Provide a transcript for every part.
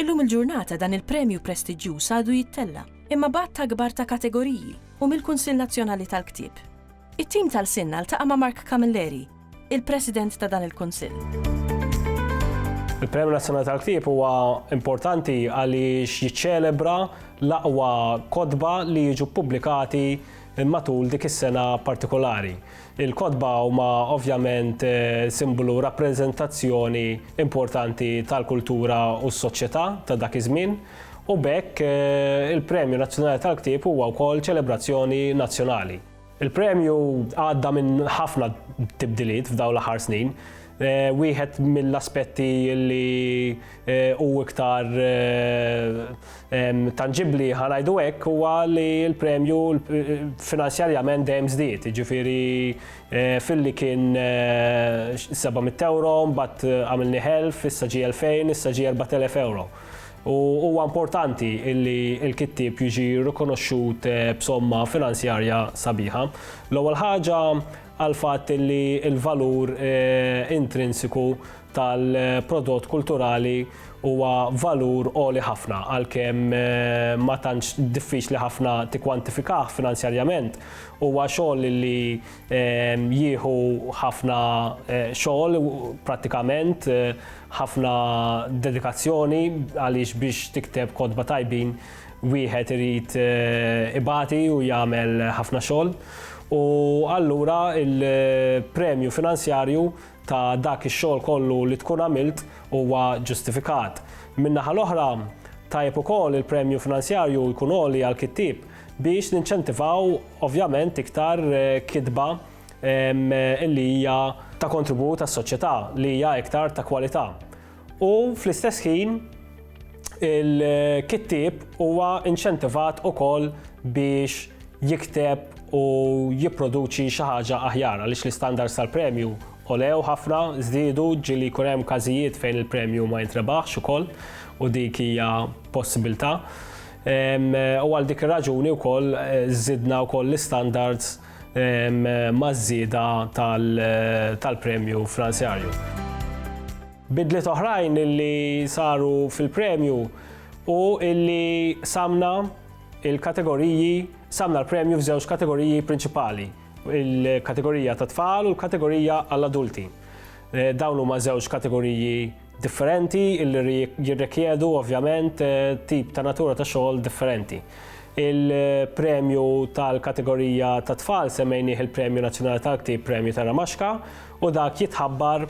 Illum il-ġurnata dan il-premju prestiġġjuż għadu jittella', imma b'għadd akbar ta' kategoriji, u mill-Kunsill Nazzjonali tal-Ktieb. It-tim ta' lsienna ltaqa' ma' Mark Camilleri, il-President ta' dan il-Kunsill. Il-Premju Nazzjonali tal-Ktieb huwa importanti għaliex jiċċelebra l-aqwa kotba li jiġu ppubblikati matul dik is-sena partikolari. Il-kotba huma ovvjament simbolu, rappreżentazzjoni importanti tal-kultura u s-soċjetà ta' dak iż-żmien, u b'hekk il-Premju Nazzjonali tal-Ktieb huwa wkoll ċelebrazzjoni nazzjonali. Il-premju għadda minn ħafna tibdiliet f'dawn l-aħħar snin. Wieħed mill-aspetti li Eh, u iktar eh, tangibli ħanajdu hekk huwa li l-premju eh, finanzjarjament dejjem żdied, jiġifieri filli kien 700 euro, mbagħad għamilni ħelf, issa ġie 2000, issa ġie 4000 euro. U huwa importanti illi l-kittib jiġi rikonoxxut b'somma finanzjarja sabiħa. L-ewwel ħaġa għal fatt illi l-valur intrinsiku tal-prodott kulturali huwa valur għoli ħafna għalkemm ma tantx diffiċli ħafna tikkwantifikah finanzjarjament. Huwa xogħol li jieħu ħafna xogħol prattikament, ħafna dedikazzjoni għaliex biex tikteb kotba tajbin wieħed irid ibati u jagħmel ħafna xogħol. U allura l-premju finanzjarju ta' dak ix-xogħol kollu li tkun għamilt huwa ġustifikat. Min-naħa l-oħra, tajjeb ukoll il-premju finanzjarju jkun għoli għall-kittieb biex ninċentivaw ovvjament iktar kitba li hija ta' kontribut għas-soċjetà, li hija iktar ta' kwalità. U fl-istess ħin il-kittieb huwa inċentivat ukoll biex jikteb u jipproduċi xi ħaġa aħjar għaliex l-istandards tal-premju olew ħafna, żdiedu ġieli jkun hemm każijiet fejn il-premju ma jintrebaħx ukoll u dik hija possibilità. U għal dik ir-raġuni wkoll żidna wkoll l-istandards maż-żieda tal-premju finanzjarju. Bidliet oħrajn li saru fil-premju hu li qsamna l-kategoriji, qsamna l-premju f'żewġ kategoriji prinċipali, il-kategorija tat-tfal u l-kategorija għall-adulti. Dawn huma żewġ kategoriji differenti li jirrikjedu ovvjament tip ta' natura ta' xogħol differenti. Il-premju tal-kategorija ta' tfal semmejnieh il-Premju Nazzjonali tal-Ktib Premju ta' Ramaxka u dak jitħabbar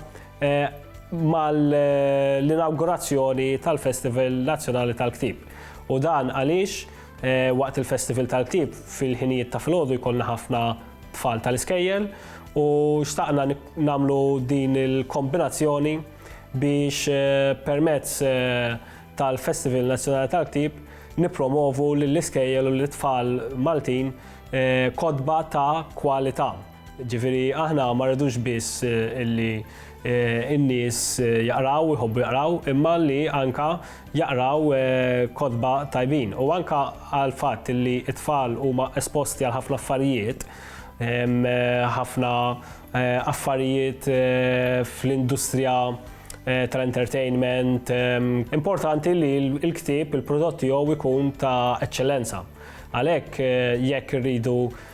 mal-inaugurazzjoni tal-Festival Nazzjonali tal-Ktib. U dan għaliex waqt il-Festival tal-Ktib fil-ħinijiet ta' filgħodu jkollna ħafna tfal tal-iskejjel u xtaqna nagħmlu din il-kombinazzjoni biex eh, permezz eh, tal-Festival Nazzjonali tal-Ktib nipromovu lill-iskejjel u l-tfal Maltin eh, kodba ta' kwalità. Ġifiri, aħna ma rridux biss illi in-nies jaqraw, jħobbu jaqraw, imma li anka jaqraw kotba tajbin. U anka għal fatt li t-tfal huma esposti għal ħafna affarijiet, ħafna affarijiet fl-industrija tal-entertainment, importanti li l-ktieb, il-prodott tiegħu jkun ta' eċċellenza. Għalhekk jekk irridu